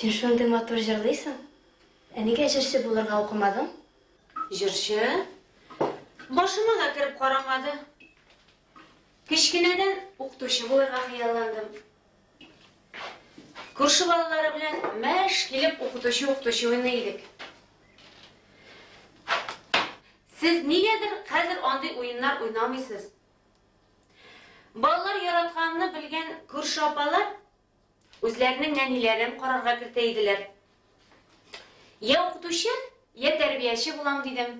Син шундый матур җырлыйсың. Ә нигә җырчы булырга укымадың? Җырчы? Башыма да кереп карамады. Кечкенәдән укытучы булырга хыялландым. Күрше балалары белән мәш килеп укытучы-укытучы уйный идек. Сез нигәдер хәзер андый уеннар уйнамыйсыз. Балалар яратканны белгән күрше апалар Үзләренең нәниләрен карарга кертә иделәр. Я укытучы, я тәрбияче булам дидем.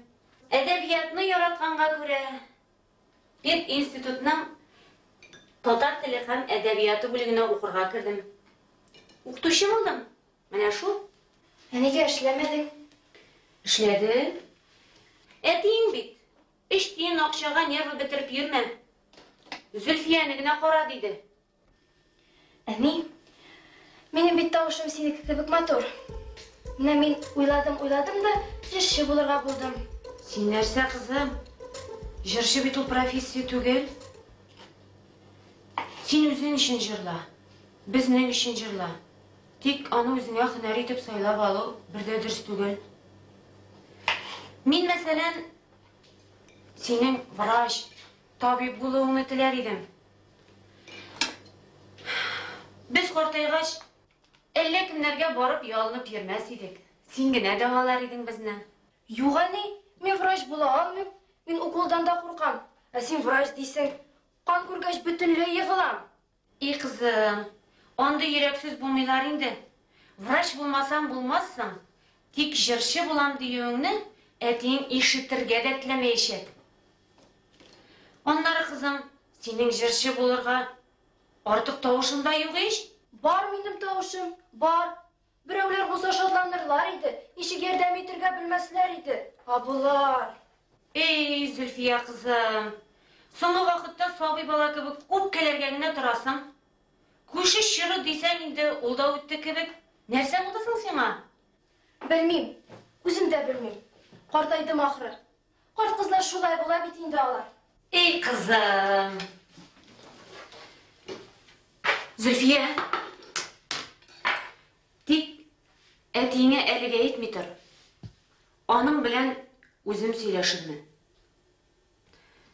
Әдәбиятны яратканга күрә, пединститутның татар теле һәм әдәбияты бүлегенә укырга кердем. Укытучы булдым. Менә шул. Ә нигә эшләмәдең? Эшләдем. Әтиең бит, өч тиен акчага нервы бетереп йөрмә. Зөлфияне генә кара, диде. Әни, минем бит тавышым синеке кебек матур. Менә мин уйладым, уйладым да, җырчы булырга булдым. Син нәрсә, кызым? Җырчы бит ул профессия түгел. Син үзең өчен җырла, безнең өчен җырла. Тик аны үзеңә һөнәр итеп сайлап алу бер дә дөрес түгел. Мин, мәсәлән, синең врач, Табиб булуыңны теләр идем. Без картайгач, әллә кемнәргә барып ялынып йөрмәс идек. Син генә дәвалар идең безне. Юк, әни, мин врач була алмыйм. Мин уколдан да куркам. Ә син врач дисең. Кан күргәч, бөтенләй егылам. И кызым, андый йөрәксез булмыйлар инде. Врач булмасаң булмассың, тик җырчы булам диюеңне әтиең ишетергә дә теләмәячәк. Аннары, кызым, синең җырчы булырга артык тавышың да юк ич. Бар минем тавышым, бар. Берәүләр булса шатланырлар иде, ничек ярдәм итергә белмәсләр иде. Ә болар. Эй, Зөлфия кызым, соңгы вакытта сабый бала кебек үпкәләргә генә торасың. Күше чоры дисәң инде, ул да үтте кебек. Нәрсә булды соң сиңа? Белмим, үзем дә белмим. Картайдым ахры. Карт-кызлар шулай була бит инде алар. Эй, кызым. Зөлфия. Тик әтиеңә әлегә әйтми тор. Аның белән үзем сөйләшермен.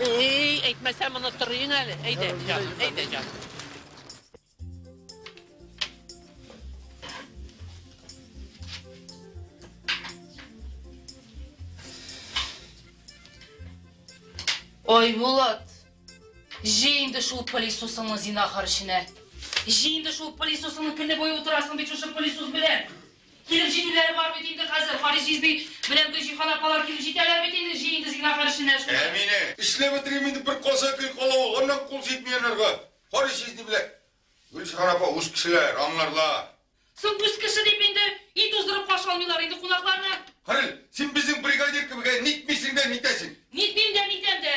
Эй, әйтмәсәм онытырыйың әле. Әйдә, җаным, әйдә, җаным. Айбулат, җи инде шул пылесосыңны зинахар эченә. Җи инде шул пылесосыңны көне буе утырасың бит шушы пылесос белән. Килеп җитүләре бар бит инде хәзер, Харис җизби белән Гөлҗиһан апалар килеп җитәләр бит инде, җый инде Зиннахар эшенә шуны. Әминә. Эшләп бетерим инде, бер каза гел кала ул, аннан кул җитми анарга. Харис җизни белән Гөлҗиһан апа үз кешеләр, аңларлар. Соң үз кеше дип инде өй туздырып каршы алмыйлар инде кунакларны. Харис, син безнең бригадир кебек, ә нитмисең дә нитәсең. Нитмим дә, нитәм дә.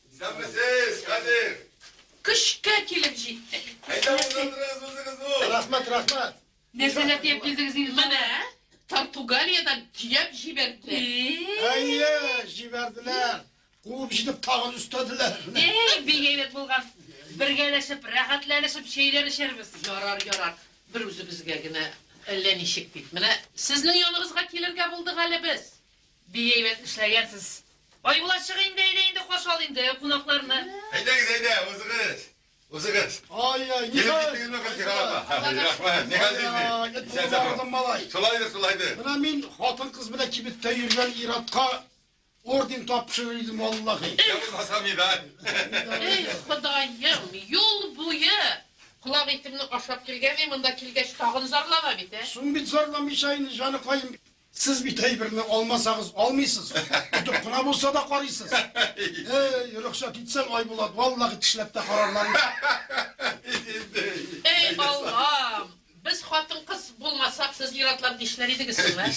Исәнмесез, Кадир! Көчкә килеп җиттек. Әйдә, утыртырыз үзегез ул. Рәхмәт, рәхмәт. Нәрсәләр тиеп килдегез инде? Менә Португалиядән төяп җибәрде. Әйе, җибәрделәр. Куып җитеп тагын өстәделәр. Эй, бик әйбәт булган. Бергәләшеп, рәхәтләнешеп чәйләр эчәрбез. Ярар, ярар. Бер үзебезгә генә әллә ничек бит. Менә сезнең яныбызга килергә булдык әле без. Бик әйбәт эшләгәнсез. Айбулат, чык инде, әйдә инде, каршы ал инде кунакларны. Әйдәгез, әйдә, узыгыз. Узыгыз. Ай-яй, ни хәл? Килеп киттегезме, Гөлсира апа? Рәхмәт. Ни хәл сизнең? Исән сау. Малай. Шулайдыр, шулайдыр. Менә мин хатын-кыз белән кибеттә йөргән ир-атка орден тапшырыр идем, валлахи. Я булмаса медаль. Эй, Ходаем, юл буе колак итемне ашап килгән, мин монда килгәч тагын зарлана бит, ә? Соң бит зарламыйча инде, җаныкаем. Сез бит әйберне алмасагыз алмыйсыз. Тотып кына булса да карыйсыз. Эй, рөхсәт итсәң, Айбулат, валлахи тешләп тә карарлар иде. Эй, Аллам! Без хатын-кыз булмасак, сез ир-атлар нишләр идегез соң, ә?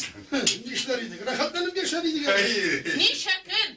Нишләр идек? Рәхәтләнеп яшәр идек әле. Ничә көн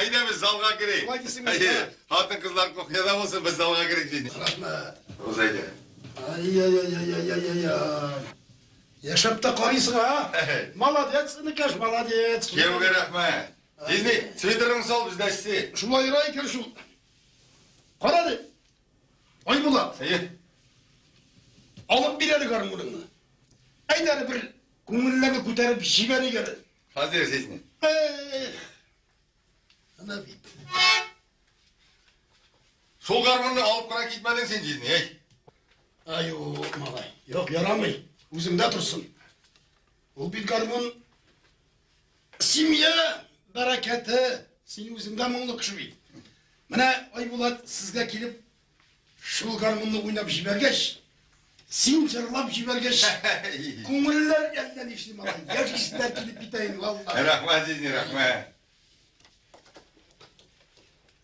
Әйдәгез, залга керик. Хатын кызлар кухняда булсын, без залга керик ди. Рәхмәт. Узайда. Ай-яй-яй-яй-яй-яй. Яшәп тә карыйсың, а? Молодец, инекәш, молодец. Кияүгә рәхмәт. Дизни, свитерыңны сал, без дә эссе. Шулай ира икән шул. Кара ди. Айбулат. Әйе. Алып бир әле гармуныңны. Әйт әле бер күңелләрне күтәреп җибәрик әле. Хәзер сезне. Ана бит. Шул гармунны алып кына китмәдең син җизни, әй. Аю, малай. Юк, ярамый. Үземдә торсын. Ул бит гармун семья бәрәкәте. Син үзең дә моңлы кеше бит. Менә Айбулат сезгә килеп шул гармунны уйнап җибәргәч, син җырлап җибәргәч, күңелләр әллә нишли малай. Яшисенә килеп китәйен, валлаһи. Рәхмәт, Зизни, рәхмәт.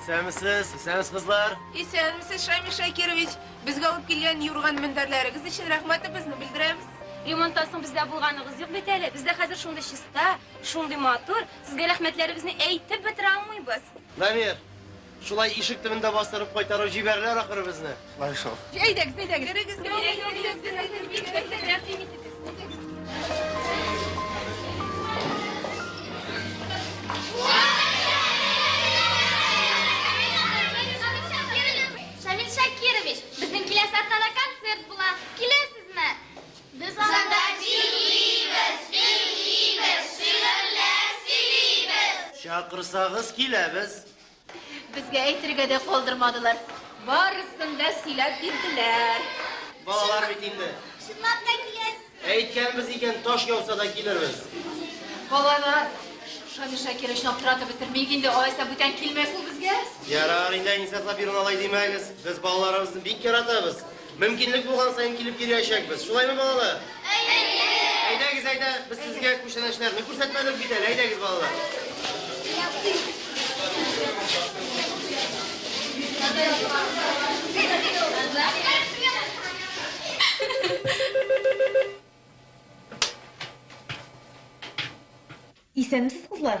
Исәнмесез, исәнмесез, кызлар. Исәнмесез, Шамил Шакирович. Безгә алып килгән юрган мендәрләрегез өчен рәхмәтебезне белдерәбез. Ремонттан соң бездә булганыгыз юк бит әле. Бездә хәзер шундый чиста, шундый матур. Сезгә рәхмәтләребезне әйтеп бетерә алмыйбыз. Намир, шулай ишек төбендә бастырып кайтарып җибәрерләр ахры безне. Әйдәгез, әйдәгез. Керегез, Шамил Шакирович, безнең киләсе атнада концерт була. Киләсезме? Без анда җырлыйбыз, бирлибез, шигырьләр сөйлибез. Чакырсагыз киләбез. Безгә әйтергә дә калдырмадылар. Барысын да сөйләп бирделәр. Балалар бит инде. Чынлап та киләсез. Әйткәнбез икән, таш яуса да килербез. Балалар, Шамил Шакировичны аптыратып бетермик инде, алайса бүтән килмәс ул безгә. Ярар инде, Әнисә Сабировна, алай димәгез. Без балаларыбызны бик яратабыз. Мөмкинлек булган саен килеп йөриячәкбез. Шулаймы, балалар? Әйе! Әйдәгез, әйдә, без сезгә күчәнәчләрне күрсәтмәдек бит әле. Әйдәгез, балалар. Исәнмесез, кызлар!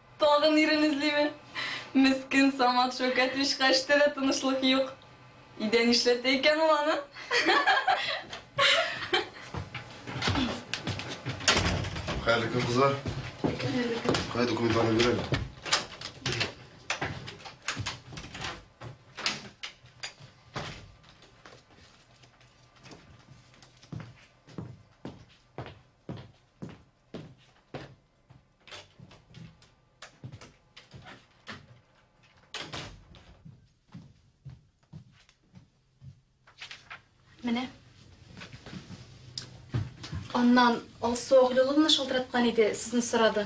Тагын ирен эзлиме? Мескен Самат Шәүкәтович качты да тынычлык юк. Өйдә нишләтә икән ул аны? Хәерле көн, кызлар. Хәерле көн. Кая документларны бирәләр? Менә. Аннан Алсу Оглюловна шалтыраткан иде, сезне сорады.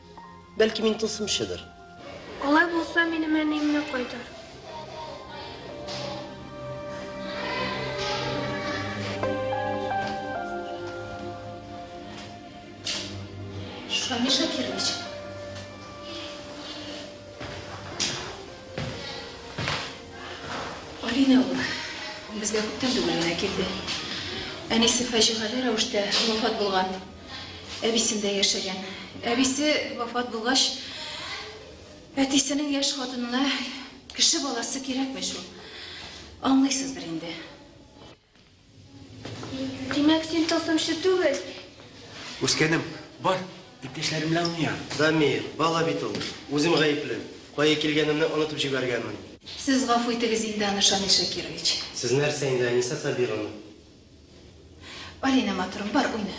Бәлки мин тылсымчыдыр. Алай булса, минем әниемне кайтар. Шамил Шакирович. Алина ул безгә күптән түгел генә килде. Әнисе фаҗигале рәвештә вафат булган. әбисендә яшәгән. Әбисе вафат булгач, әтисенең яшь хатынына кеше баласы кирәкми шул. Аңлыйсыздыр инде. Димәк, син тылсымчы түгел. Үскәнем, бар, иптәшләрем белән уйна. Дамир, бала бит ул. Үзем гаепле. Кая килгәнемне онытып җибәргәнмен. Сез гафу итегез инде аны, Шамил Шакирович. Сез нәрсә инде, Әнисә Сабировна? Алина, матурым, бар, уйна.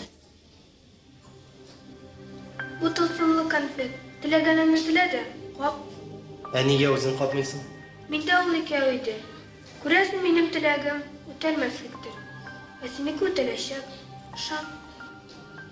Бу тылсымлы конфет. Теләгәнеңне телә дә, кап. Ә нигә үзең капмыйсың? Миндә ул икәү иде. Күрәсең, минем теләгем үтәлмәслектер. Ә синеке үтәләчәк. Ышан.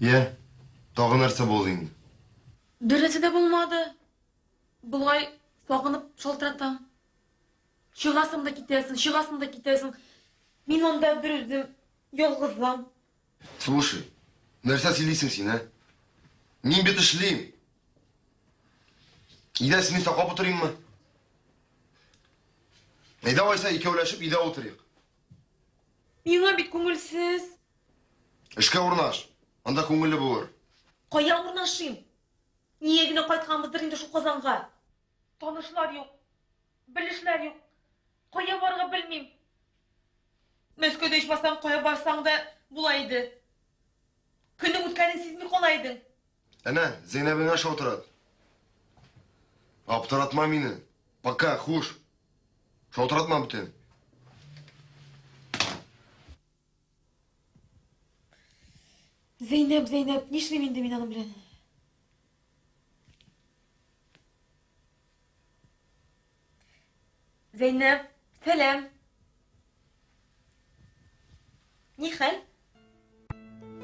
Йә, тагы нәрсә булды инде? Бернәрсә дә булмады. Болай сагынып шалтыратам. Чыгасың да китәсең, чыгасың да китәсең. Мин анда бер үзем ялгызым. Слушай, нәрсә сөйлисең син, ә? Мин бит эшлим. Идә сине саклап утырыйммы? Әйдә алайса икәүләшеп идә утырыйк. Миңа бит күңелсез. Эшкә урнаш. Анда күңелле булыр. Кая урнашыйм? Нигә генә кайтканбыздыр инде шул Казанга? Танышлар юк. Белешләр юк. Кая барырга белмим. Мәскәүдә ичмасам кая барсаң да була иде. Көннең үткәнен сизми кала идең. Әнә, Зәйнәбеңә шалтырат. Аптыратма мине. Пока, хуш. Шалтыратма бүтән. Зәйнәп, Зәйнәп, нишлим инде мин аның белән? Зәйнәп, сәлам. Ни хәл?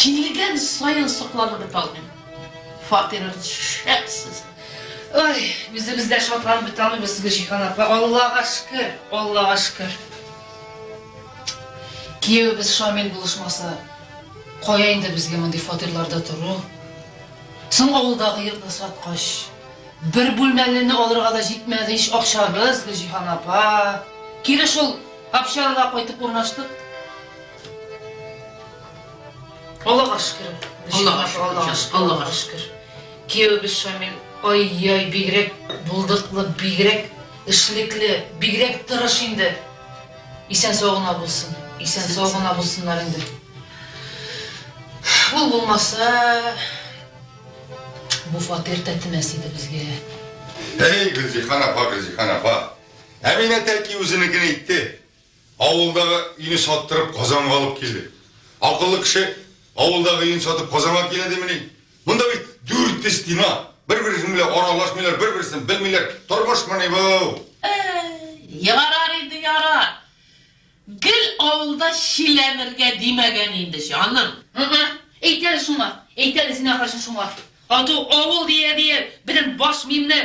Килгән саен сокланып беталмыйм. Фатирыгыз шәп сезнең. Ой, үзебез дә шатланып беталмыйбыз, Гөлҗиһан апа. Аллага шөкер, Аллага шөкер. Киявебез Шамил булышмаса, кая инде безгә мондый фатирларда тору? Соң авылдагы йортны саткач, бер бүлмәлене алырга да җитмәде ич акчабыз, Гөлҗиһан апа. Кире шул общагага кайтып урнаштык. Аллага шөкер. Аллага шөкер. Аллага шөкер. Киявебез Шамил, ай-яй, бигрәк булдыклы, бигрәк эшлекле, бигрәк тырыш инде. Исән сау гына булсын. Исән сау гына булсыннар инде. Ул булмаса, бу фатир тәтемәс иде безгә. Әй, Гөлзихан апа, Гөлзихан апа. Әминә тәки үзенекен әйтте. Авылдагы өйне саттырып, Казанга алып килде. Акыллы кеше авылдагы өен сатып Казанга килә димени? Монда бит дүрт стена, бер-берсен белән аралашмыйлар, бер-берсен белмиләр. Тормышмыни бу? Әй, ярар инде, ярар. Гел авылда чиләнергә димәгән инде, җаным. Ы-ы, әйт әле шуңа, әйт әле син, ахрысы, шуңа. Ату авыл дия-дия, безнең баш миемне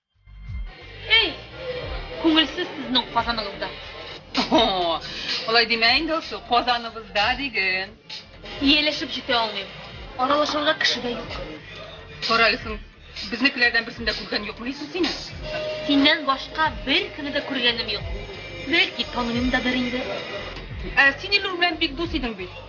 Әй! Күңелсез сезнең Казаныгызда. О-о! Алай димә инде, Алсу, Казаныбызда диген. Ияләшеп җитә алмыйм. Аралашырга кеше дә юк. Кара Лисың, безнекеләрдән берсен дә күргән юкмы ди соң синең? Синнән башка беркемне дә күргәнем юк. Бәлки, таныйм да бер инде. Ә син Илнур белән бик дус идең бит.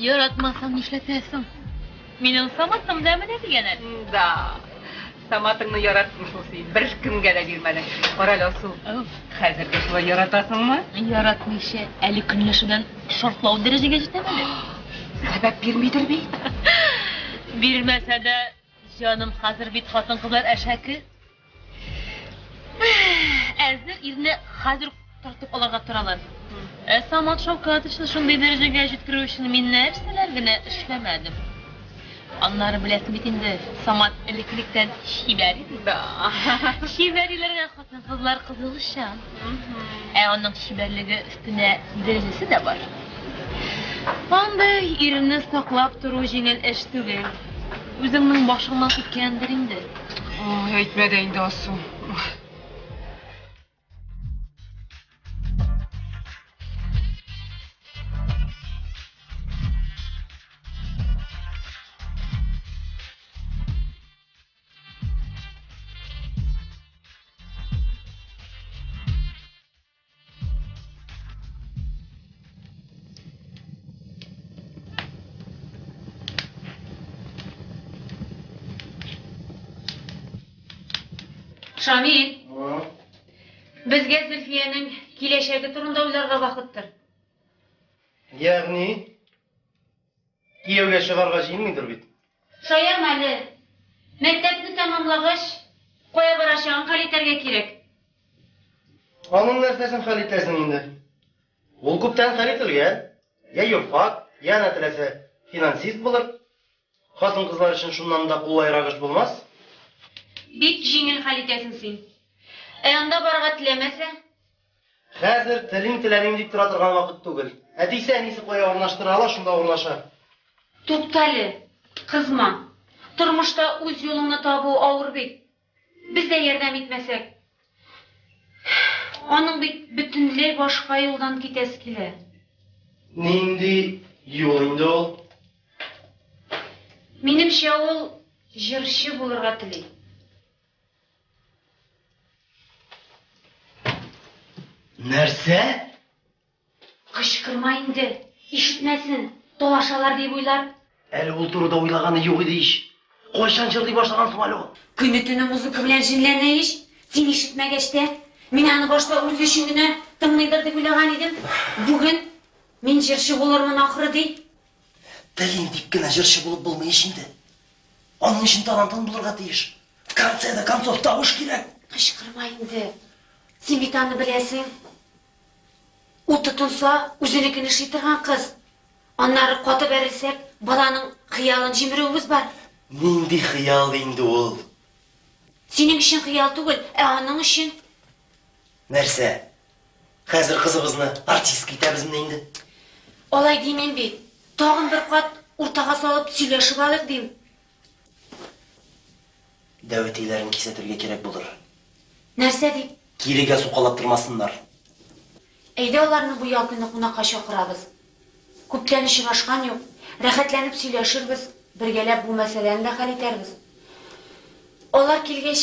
Яратмасаң нишләтәсең? Минем Саматым да менә дигән әле. Да. Саматыңны яраттым шул син. Беркемгә дә бирмәдең. Карале, Алсу. Хәзер дә шулай яратасыңмы? Яратмыйча, әле көнләшүдән шартлау дәрәҗәгә җитәм әле. Сәбәп бирмидер бит? Бирмәсә дә, җаным, хәзер бит хатын-кызлар әшәке. Әзер ирне хәзер үк тартып алырга торалар. Ә Самат Шаукатовичны шундый дәрәҗәгә җиткерү өчен мин нәрсәләр генә эшләмәдем. Аннары беләсең бит инде, Самат элеккелектән чибәр иде. Чибәр иләргә хатын-кызлар кызыгышчан. Ә аның чибәрлеге өстенә дәрәҗәсе дә бар. Андый ирне саклап тору җиңел эш түгел. Үзеңнең башыңнан үткәндер инде. Ой, әйтмә дә инде, Асу. Шамил, безгә Зөлфиянең киләчәге турында уйларга вакыттыр. Ягъни? Кияүгә чыгарга җыенмыйдыр бит? Шаярма әле. Мәктәпне тәмамлагач, кая барачагын хәл итәргә кирәк. Аның нәрсәсен хәл итәсең инде? Ул күптән хәл ителгән. Йә юрфак, йә ана теләсә, финансист булыр. Хатын-кызлар өчен шуннан да кулайрак эш булмас. Бик җиңел хәл итәсең син. Ә анда барырга теләмәсә? Хәзер телим теләмим дип тора торган вакыт түгел. Әтисе, әнисе кая урнаштыра ала, шунда урнаша. Туктале, кызма. Тормышта үз юлыңны табу авыр бит. Без дә ярдәм итмәсәк. Аның бит бөтенләй башка юлдан китәсе килә. Нинди юл инде ул? Минемчә, ул җырчы булырга тели. Нәрсә? Кычкырма инде, ишетмәсен, талашалар дип уйлар. Әле ул турыда уйлаганы юк иде ич. Кайчан җырлый башлаган соң әле ул? Көне-төне музыка белән җенләнә ич. Син ишетмәгәч тә. Мин аны башта үзе өчен генә тыңлыйдыр дип уйлаган идем. Бүген, Мин җырчы булырмын, ахры, ди. Телим дип кенә җырчы булып булмый ич инде. Аның өчен тарантан булырга тиеш. В конце до концов тавыш кирәк. Кычкырма инде. Син бит аны беләсең. Ул тотынса, үзенекен эшли торган кыз. Аннары каты бәрелсәк, баланың хыялын җимерүебез бар. Нинди хыял инде ул? Синең өчен хыял түгел, ә аның өчен. Нәрсә? Хәзер кызыбызны артистка итәбезме инде? Алай димим бит. Тагын бер кат уртага салып сөйләшеп алыйк дим. Дәвәтиләрен кисәтергә кирәк булыр. Нәрсә дип? Кирегә сукалап тормасыннар. Әйдә аларны бу ял көне кунакка чакырабыз. Күптән очрашкан юк. Рәхәтләнеп сөйләшербез, бергәләп бу мәсьәләне дә хәл итәрбез. Алар килгәч,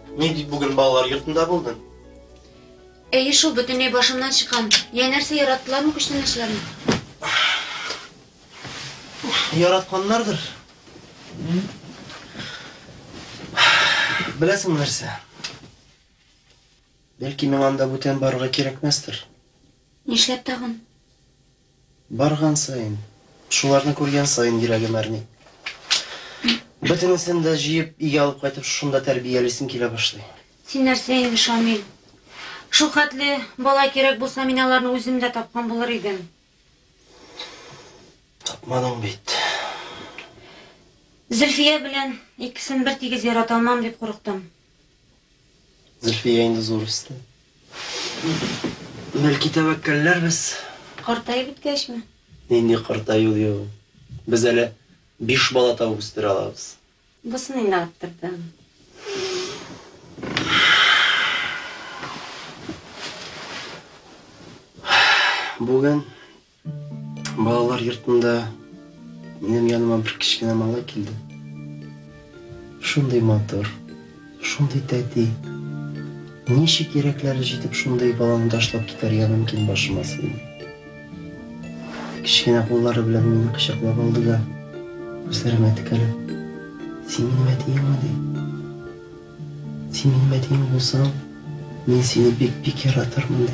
Ни дип бүген балалар йортында булдың? Әйе шул, бөтенләй башымнан чыккан. Йә, нәрсә, яраттылармы күчтәнәчләрне? Яратканнардыр. Беләсеңме нәрсә? Бәлки миңа анда бүтән барырга кирәкмәстер. Нишләп тагын? Барган саен, шуларны күргән саен йөрәгем әрни. Бөтенесен дә җыеп, өйгә алып кайтып, шушында тәрбиялисем килә башлый. Син нәрсә инде, Шамил. Шул хәтле бала кирәк булса, мин аларны үзем дә тапкан булыр идем. Тапмадың бит. Зөлфия белән икесен бертигез ярата алмам дип курыктым. Зөлфия инде зур үсте. Бәлки тәвәккәлләр без. Картаеп беткәчме? Нинди картаю ди ул? Без әле биш бала табып үстерә алабыз. Бусын инде арттырдым. Бүген Балалар йортында минем яныма бер кечкенә малай килде. Шундый матур, шундый тәти. Ничек йөрәкләре җитеп шундый баланы ташлап китәргә мөмкин башыма сыймый. Кечкенә куллары белән мине кочаклап алды да, күзләремә текәлеп, Син минем әтиеңме? ди. Син минем әтиең булсаң, мин сине бик-бик яратырмын, ди.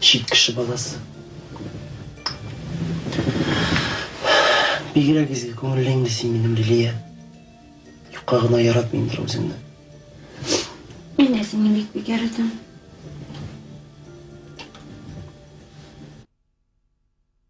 Чит кеше баласы. Бигрәк изге күңелле инде син минем Лилия. Юкка гына яратмыймдыр үзеңне. Мин дә сине бик бик яратам.